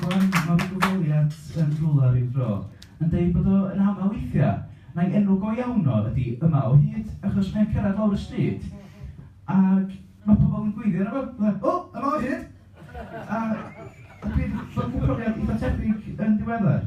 Iwan, mae fy nghyfweliad Seren Rhula ryw dro yn deud bod o yn aml weithiau, mai enw go iawn o ydy Yma o Hyd, achos mae'n cyrraedd lawr y stryd ac mae pobl yn gweiddi arno fo, fatha, O! Yma o Hyd! A a dwi 'di bod yn profiad eitha' tebyg yn ddiweddar.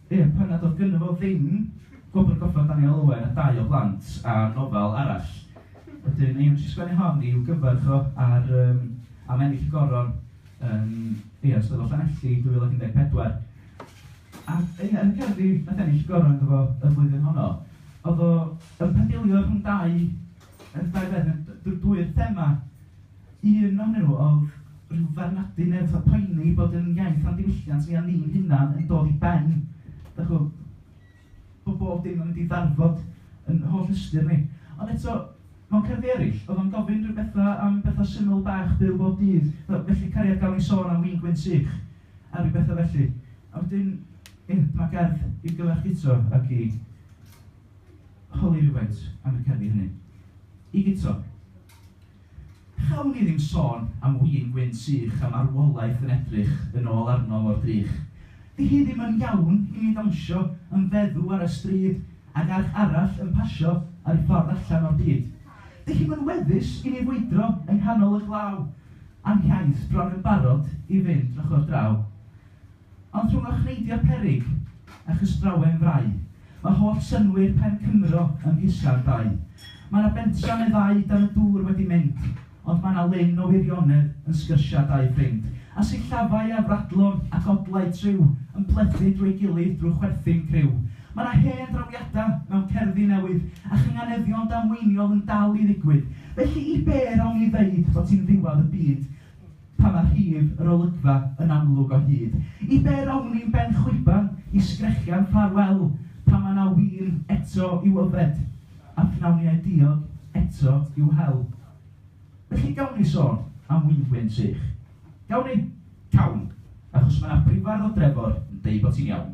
Ie, pan nad oedd gynno fo ddim gwobr goffa Daniel Owen a dau o blant a nofel arall. Wedyn ie, wnes i sgwennu hon i'w gyfarch o ar yym am ennill y Goron yn ie yn Steddfod Llanelli 2014. A ie, yn y cerddi wnaeth ennill y Goron iddo fo y flwyddyn honno, oedd o yn pendilio rhwng dau yym dau beth, d- dwy'r thema. Un o nhw oedd rhyw farnadu neu fatha poeni bod yn iaith am ddiwylliant ni a ni'n hunan yn dod i ben, dach ch'bo', bo' bob dim yn mynd i ddarfod yn holl ystyr ni. Ond eto, mewn cerddi eryll, o'dd o'n gofyn rhyw betha am betha syml bach byw bob dydd, fel 'felly cariad gawn ni sôn am win gwyn sych', a rhyw betha felly. A wedyn, ie, dyma gerdd i'w gyfarch Guto ac i holi rywfaint am y cerddi hynny. I Guto. Cawn ni ddim sôn am win gwyn sych a marwolaeth yn edrych yn ôl arno mor drych. Di hi ddim yn iawn i mi ddawnsio yn feddw ar y stryd ag arch arall yn pasio ar ei ffordd allan o'r byd. Di hi'm yn weddus i mi fwydro yng nghanol y glaw, a'n hiaith bron yn barod i fynd drychodd draw. Ond rhwng y cneidio peryg a chystrawen frau, mae holl synnwyr pen Cymro ym Mhisga'r Dau. Mae 'na bentra meddai dan y dŵr wedi mynd, ond mae 'na lyn o wirionedd yn sgyrsia dau ffrind, a sillafau ar fradlon ac odlau triw yn plethu drwy'i gilydd drwy chwerthin criw. Mae 'na hen drawiada mewn cerddi newydd, a chynganeddion damweiniol yn dal i ddigwydd. Felly i be' rawn ni ddeud fod hi'n ddiwadd y byd? pan mae rhif yr olygfa yn amlwg o hyd. I be rown i'n ben chwiban i sgrechian ffarwel pan mae 'na win eto i'w yfed, a phnawniau diog eto i'w hel? Felly gawn ni sôn am winfwyn sych? Gawn ni? Cawn, achos mae 'na brifardd o Drefor yn deud bod ti'n iawn.